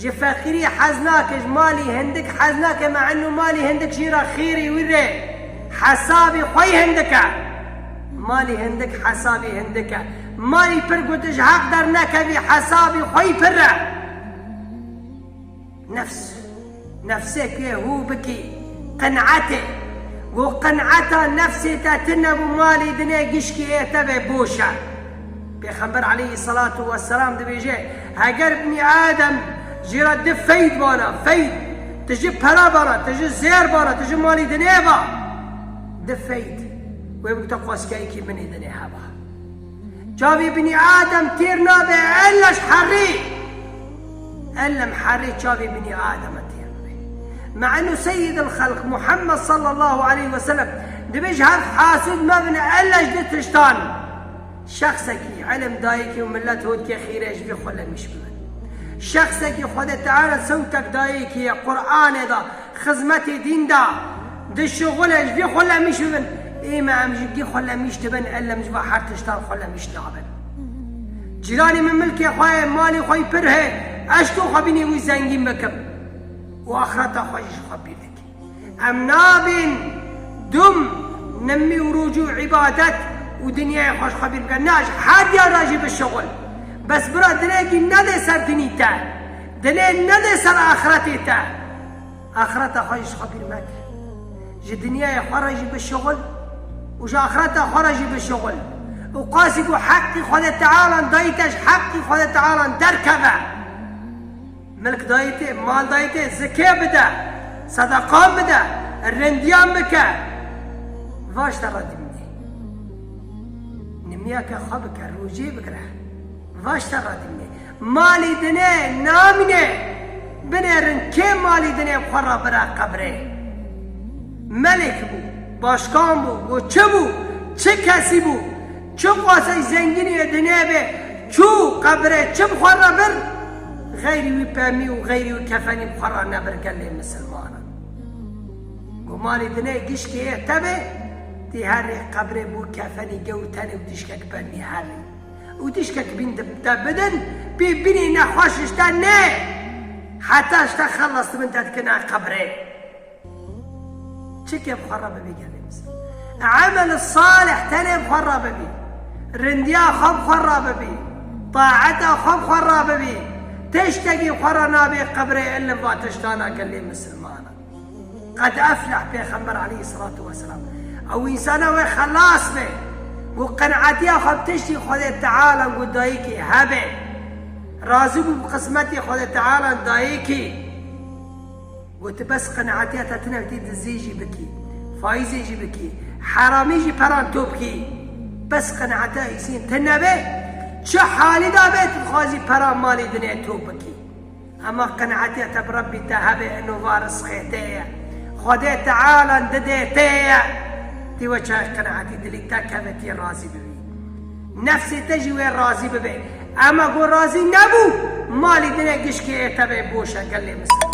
Ji feqîrî hez nake, ji malî hindik hez nake me enû malî hindik jî re xêrî wî rê hesabî xweyî hindik e. Malî hindik hesabî hindik e. Malî pir ku tu ji heq dernekevî hesabî xweyî pir e. Nefs, nefsê ku yê hû bikî, qin'et ê. Ku qin'eta nefsê te tune bû malî dinê gişkî ê tevê boş e. Pêxember aleyhî selatu weselam dibêje, Heger binî Adem jî re di feyd bana, feyd, ti ji pere bana, ti ji zêr bana, ti ji malî dinê ba, di feyd, wê bikute xweskeyekî binê dinê heba. Çavê binî Adem têr nabe ella ji herrê. Ellem herrê çavê binî Ademe têr bibe. Me'nu Seyyidil Xelq Muhammed sallallahu aleyhi ve sellem dibêje heft hasûd mebine ella ji du tiştan. Şexsekî elm dayikê û milet hotke xîre ji vê xwe lenîş bibe. Şexsekî Xwedê Teala sewtek dayikê ye Quranê da, xizmetê dîn da, dişuxule ji vê xwe lenîş bibin. Ê me em ji gê xwe lenîş dibin elm ji va her tiştan xwe lenîş nabin. Cîranê min milkê xwe ye, malê xwe yî pir heye, eşko xwe bînê wî zengîn bikim û axireta xwe jî ji xwe bîr dikim. Em nabên dum nimî û rûcû îbadet û dinyayê xweş xwe bîr bikin. Na ji her diyan re jî bi şixul. Bes bira dilekî nede ser dinî te. Dilê nede ser axretê te. Axreta xwe jî ji xwe bîr meke. Ji dinyayê xwe re jî bi şixul û ji axreta xwe re jî bi şixul. Û qasî ku heqî Xwedê Tealan dayî te ji heqî Xwedê Tealan derkeve. Milk dayî tê, mal dayî tê, zikê bide, sedeqan bide, rindiyan bike. Va ji te re dimîne. Nimiyeke xwe bike, rojê bigire. Va ji te re dimîne. Malî dinê namîne. Binêrin kê malî dinê xwe re bire qebrê. Melek bû, başkan bû, goçi bû, çi kesî bû. Çi qasey zengîniyê di nêbê çû qebirê çi bi xwe re bir, xeyrî wî pemî û xeyrî wî kefenî bi xwe re nebir gelê misilmanan. Gumanî di nê gişkê yê tevê tî herrî qebirê bû kefenî gewr tenê û dîşkek pemî herrî û dîşkek bîn di te bidin bî binî nexweş ji te nê heta ji te xelas di bin te dikina qebirê. Çike bi xwe re bibî gelê miskin. Emel salih tenê bi xwe re bibî. Rindiya xwe bi xwe re bibî. Taeta xwe bi xwe re bibî. Tiştekî bi xwe re nabê qebrê ilim va tiştan a gelê misilmanan. Qed efleh pêxember aleyh selatû weselam. Ew însan e wê xelas be û qenetiya xwe bi tiştî xwedê tealan ku dayikî hebe. Razîbû bi qismetê xwedê tealan dayikî. Got tu bes qeneatiya te tune witî dizî jî bikî, faîzê jî bikî, heramî jî peran to bikî. Bes qeneatiya îsîn te nebe, çi halî de be tu dixwazî peran malê dinê to bikî. Hema qeneatiya te bi Rebbî te hebe ino va risqê te ye. Xwedê Teala didê te ye. Ti we çaye qeneatî dilî te keve tî razî bibî. Nefsê te jî wê razî bibe. Ema ku razî nebû, malê dinê gişkê ê te be boş e gelê misilman.